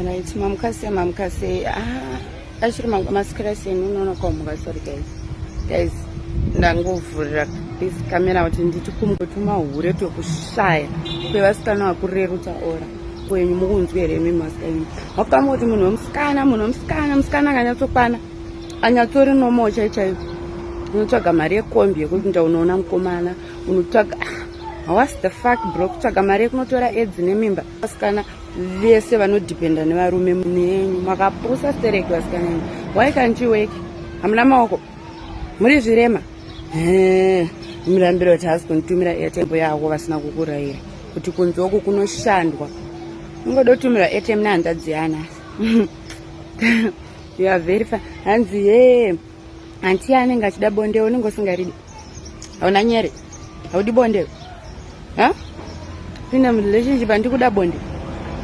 Right, mamukase mamukase ah, achiri masikirasi imi unoona kwamuka sorry guys guys ndangovhurira this camera kuti nditi kumwe tumahure twekushaya kwevasikana vakurerutsa ora kwenyu mukunzwi here imi masikana mapanga kuti munhu wemusikana munhu wemusikana musikana akanyatsokwana anyatsori nomo chaichaiyo unotsvaga mari yekombi yekuti nda unoona mukomana unotsvaga ah, hawasi the fuck bro kutsvaga mari yekunotora edzi nemimba vasikana vese vanodependa nevarume munenyu makapusa stereki vasikana enyu why can't you work hamuna maoko muri zvirema mirambiro kuti hasi kunitumira airtembo yako vasina kukurayira kuti kunzi oku kunoshandwa ungoda kutumirwa airtem nehanzvadzi yana you are very fine hanzi ye hanti anenge achida bonde unenge usingaridi hauna nyere haudi bonde ha ine relationship handi kuda bonde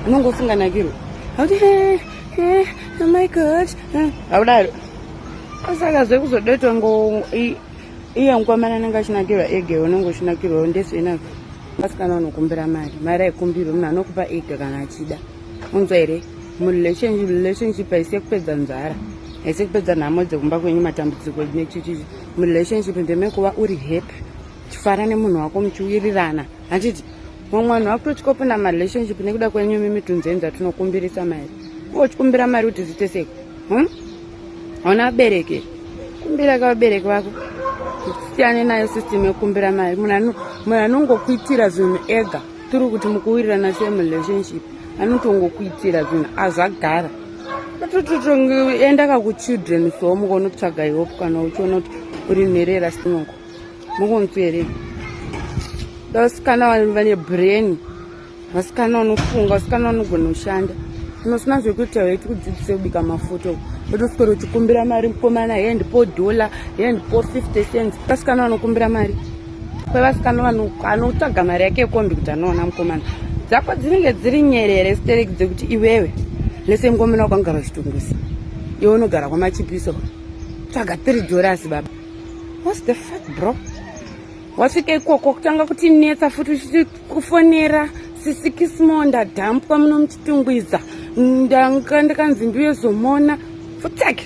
unonge usinganakirwe hauti oh my god haudaro asaka zve kuzodetwa ngo iye mukomana anenge achinakirwa ege unenge uchinakirwa ndesina asikana anokumbira mari mari aikumbirwe munhu anokupa ega kana achida unzwa here murelationship haisi yekupedza nzara haisi yekupedza nhamo dzekumba kwenyu matambudziko nechichichi murelationship ndemekuva uri happy chifara nemunhu wako muchiwirirana handiti mumwe vanhu vakutochikopinda marelationship nekuda kwenyu mimitunzi enza tinokumbirisa mari uchikumbira mari kuti zviite sei hmm? hauna vabereki kumbira ka vabereki vako siyane nayo system yekukumbira mari munhu anongokuitira zvinhu ega tiri kuti mukuwirirana sei murelationship anotongokuitira zvinhu azvagara tototongoendaka kuchildren so mukonotsvaga ihope kana uchiona kuti uri nherera sinoko mukonzwere vasikana vane brain vasikana vanofunga vasikana vanogona kushanda unosina zvekuita weti kudzidzise kubika mafuta uku otoswera uchikumbira mari mukomana hee ndipo dhola hee ndipo 50 cents vasikana vanokumbira mari kwevasikana vanhu anotsvaga mari yake yekombi kuti anoona mukomana dzako dzinenge dziri nyerere stereki dzekuti iwewe lese ngomena kwangara uchitungusa iwe unogara kwamachipiso tsvaga tiri dorasi baba whats the fact bro wasvika ikoko kutanga kuti netsa futi uchiti kufonera sisikismo ndadhampwa muno muchitungwiza ndanga ndikanzi ndiuye zomona futsake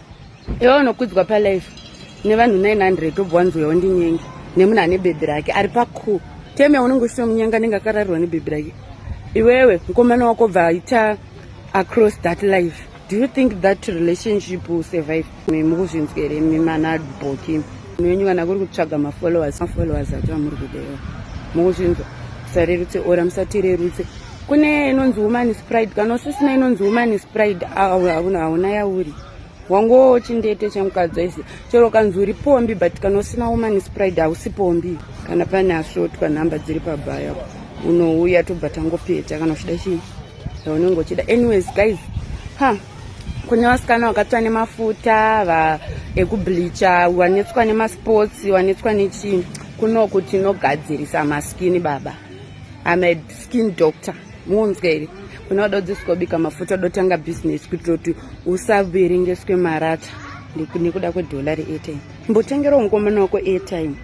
iwe unokudzwa palife nevanhu 900 obva wanzwa wandinyenge nemunhu ane bhebhi rake ari paku teme unenge usito munyenga anenge akararirwa nebhebhi rake iwewe mukomana wako bva aita across that life do you think that relationship will survive mi mukuzvinzwere mi manadboki munhu wenyu kana kuri kutsvaga mafollowers mafollowers acho amuri kudewa mukuzvinzwa musarerutse ora musatirerutse kune inonzi woman is pride kana usisina inonzi woman is pride hauna hauna yauri wangowo chindete chemukadzi aisi chero kanzi uri pombi but kana usina woman is pride hausi pombi kana pane asvotwa nhamba dziri pabaya unouya tobva tangopeta kana uchida chii zvaunenge uchida anyways guys ha kune vasikana vakatswa nemafuta va ekubleacha wanetswa nemasports wanetswa nechii kunoku tinogadzirisa maskini baba amed skin doctor muonzwa here kune vada kudzidziswa kubika mafuta uda kutanga business kuitira kuti usaverengeswe marata nekuda kwedholari airtime mbotengerawo mukomana wako airtime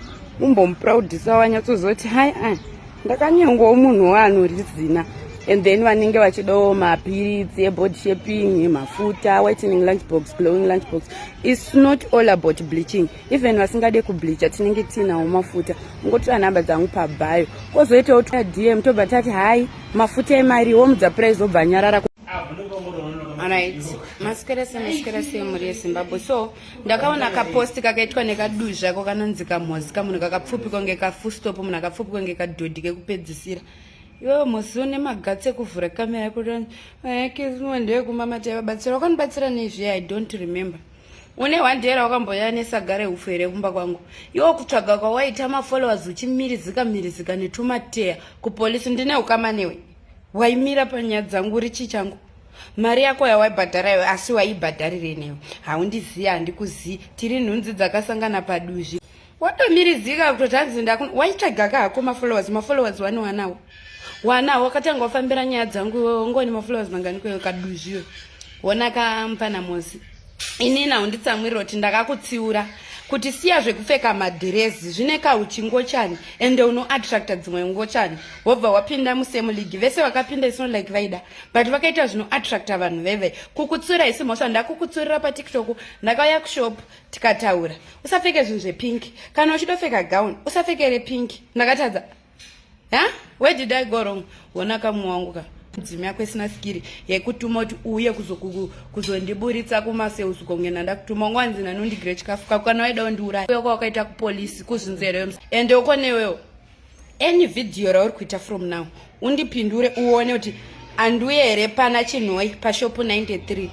umbomuproudisa wanyatsozoti hai a ndakanyengwawo munhu waanorizina and then vanenge vachidawo mapiritsi ebody shaping mafuta whitening lunch box glowing lunch box its not all about bleaching even vasingade kubleacha tinenge tiinawo mafuta ungotora nhamba dzangu pabhayo kozoitawo twa dm tobva tati hai mafuta emari womudza price obva nyarara right masikerese masikerese mhuri yezimbabwe so ndakaona kaposti kakaitwa nekaduzvi zvako kanonzi kamhozi kamunhu kakapfupi konge kafustop munhu akapfupi konge kadhodhi kekupedzisira iwewe mhozi une magatsi ekuvhura kamera yekuti eh, kizimwe ndeyekumamata yavabatsira wakanibatsira nezviya i don't remember une hwandera wakamboya nesaga rehufu here kumba kwangu iwo kutsvaga kwawaita mafollowers uchimirizika mirizika netumateya kupolisi ndine ukama newe waimira panyaya dzangu uri chii changu mari yako yawaibhadhara iwe asi waibhadharire newe haundizivi handikuzivi tiri nhunzi dzakasangana paduzvi watomirizika kutoti hanzi ndakuna waitsvagaka hako mafollowers mafollowers wani wanawo wanawo wakatanga wafambira nyaya dzangu iwewe ungoni mafollowers mangani kwewe kaduzviwe wona kampana mosi ini nawo nditsamwirira kuti ndakakutsiura kuti siya zvekupfeka madhirezi zvine kauchi ngochani ende unoattracta dzimwe ngochani wobva wapinda musame league vese vakapinda isino like vaida but vakaita zvinoattracta vanhu veve kukutsura isi mhosva ndakukutsurira patiktok ndakauya kushop tikataura usapfeke zvinhu zvepink kana uchidofeka gown usapfeke repink ndakatadza ha where did i go wrong wona kamwe wangu ka mudzimu yako isina sikiri yekutuma kuti uye kuzondiburitsa kumaseuzi konge ndandakutuma unga wanzi nanondigire chikafu kako kana waida undiuraya uya kwawakaita kupolisi kuzvinzereyo ende uko newewo any video rauri kuita from now undipindure uone kuti anduye here pana chinhoi pashopu 93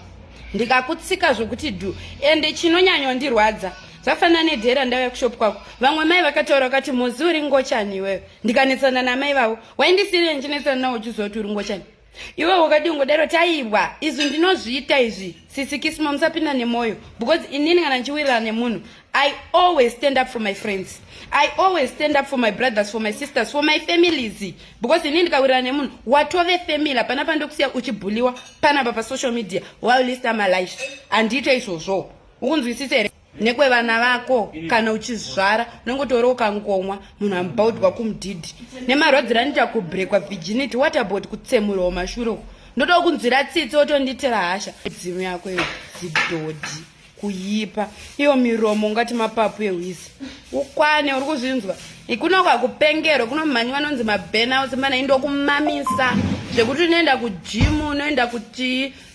ndikakutsika zvokuti dhu ende chinonyanyondirwadza zvafanana nedhera ndauya kushopu kwako vamwe mai vakataura vakati muzi uri ngochani iweyo ndikanetsana namai vavo waindisiire ndichinetsana nawo uchizoti uri ngochani iwe wakadii ungodaro taibwa izvi ndinozviita izvi sisi kisimo musapinda nemoyo because inini kana ndichiwirirana nemunhu i always stand up for my friends i always stand up for my brothers for my sisters for my families because inini ndikawirirana nemunhu watove family hapana pandokusiya uchibhuliwa panapa pasocial media while list amalife handiite izvozvo ukunzwisisa here nekwevana vako kana uchizvara unongotora ukankomwa munhu ambaudwa kumudhidhi nemarwadziro anoita kubrekwa virginity what about kutsemurwa mashure uku ndoda kunzwira tsitsi otonditira hasha dzimu yako iyo zidhodhi kuyipa iyo miromo ungati mapapu ehwisi ukwane uri kuzvinzwa ikuna kwakupengerwa kuno mhanyi vanonzi mabenouts mana indokumamisa zvekuti unoenda kujimu unoenda kutii